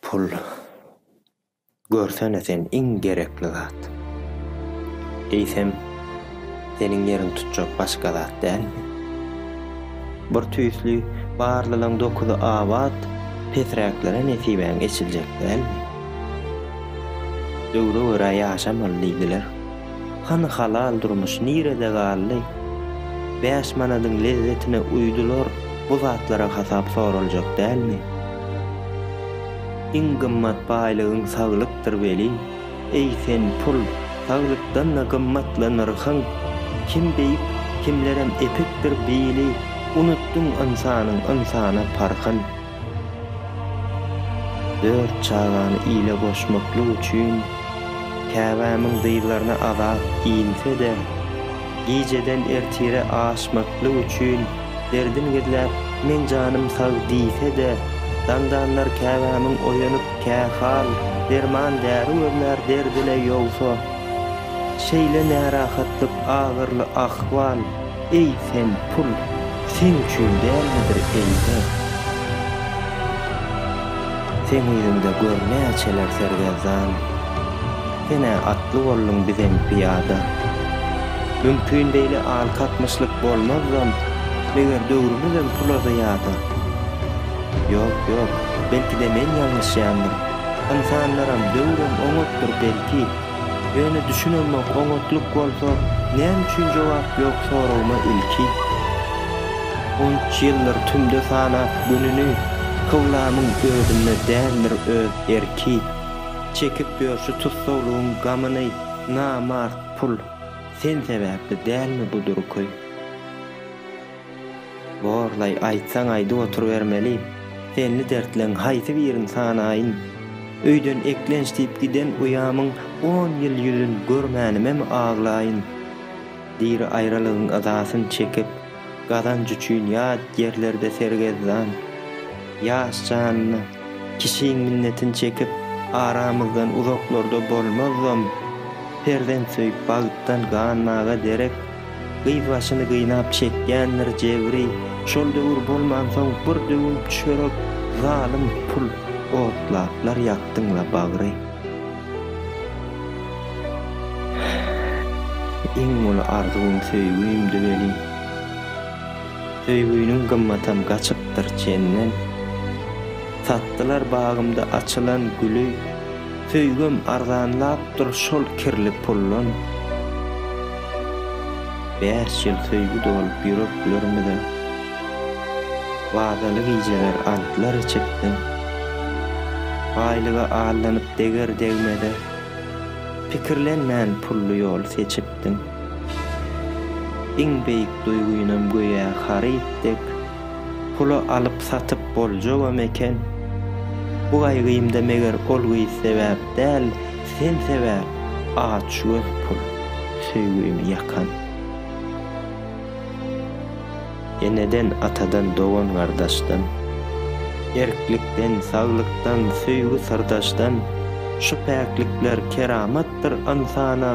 Pul görsene sen iň gerekli zat. Eýsem seniň ýeriň tutjak başga zat dälmi? Bir tüýsli barlylaň dokuzy abat pesräklere nesibäň eçiljek dälmi? Döwre görä ýaşamaly diýdiler. Hany halal durmuş nirede galdy? Bäş manadyň lezzetine uýdular bu zatlara hasap soraljak dälmi? Iň gymmat baýlygyň saglykdyr welin, eý sen pul, saglykdan-da gymmatly nyrhyň! Kim beýik, kimlerem epikdir bili, unutdyň ynsanyň ynsana parhyn! Dört çagany ile goşmaklyk üçin käbämiň dyzlaryna azap inse-de, gijeden ertire aşmaklyk üçin derdin gizläp, meň janym sag diýse-de, daňdanlar käbämiň oýanyp kähal derman-däri gözlär derdi-le ýogsa, şeýle närahatlyk, agyrly ahwal, Eý, sen, pul, seň üçin dälmidir, eý, zer? Seň yzyňda gör näçeler sergezdan. Sen-ä atly bolduň, bizem pyýada. Mümkin beýle alkatmyşlyk bolmazdam, meger döwrümizem pula zyýada? Ýok, ýok, belki-de men ýalňyşýandyryn. Ynsanlaram, döwrem oňatdyr, belki. Ýöne düşünemok oňatlyk bolsa näme üçin jogap ýok soragyma ilki onç ýyldyr tümde sanap gününi kyblamyň özünde däldir öz erki çekip ýör şu tussaglygyň gamyny namart pul sen sebäpli dälmi bu durky. Borlaý, aýtsaň aýdyp oturybermeli. Senli dertleň haýsy birini sanaýyn? Öýden eklenç diýip giden uýamyň on ýyl ýüzün görmänimem aglaýyn? Diri aýralygyň yzasyn çekip, gazanç üçin ýat ýerlerde sergezdan, ýaş janyny, Kişiň minnetin çekip, aramyzdan uzaklarda bolmazam, perzent söýüp bagtdan ganmaga derek, gyz başyny gynap çekýändir jebri, şol döwür bolmansoň bir döwüm çörek, zalym pul, otlaplar ýakdyň-la bagry. Iň uly arzuwym söýgimdi welin. Söýgüniň gymmatam gaçypdyr çenden. Satdylar bagymda açylan güli, Söýgim arzanlapdyr şol kirli puldan. Bäş ýyl söýgi dolup ýüreklerimize, Wadaly gijeler antlar içipdim. Baýlyga allanyp deger-degmeze, Pikirlenmän pully ýol seçipdim. etdiň. Iň beýik duýgynam göýä haryt dek, pula alyp-satyp boljagam eken. Bu gaýgymda meger ol gyz sebäp däl, sen sebäp, açgöz pul, söýgimi ýakan. Eneden, atadan, dogan-gardaşdan, erklikden, saglykdan, söýgi-syrdaşdan, şu päklikler keramatdyr ynsana.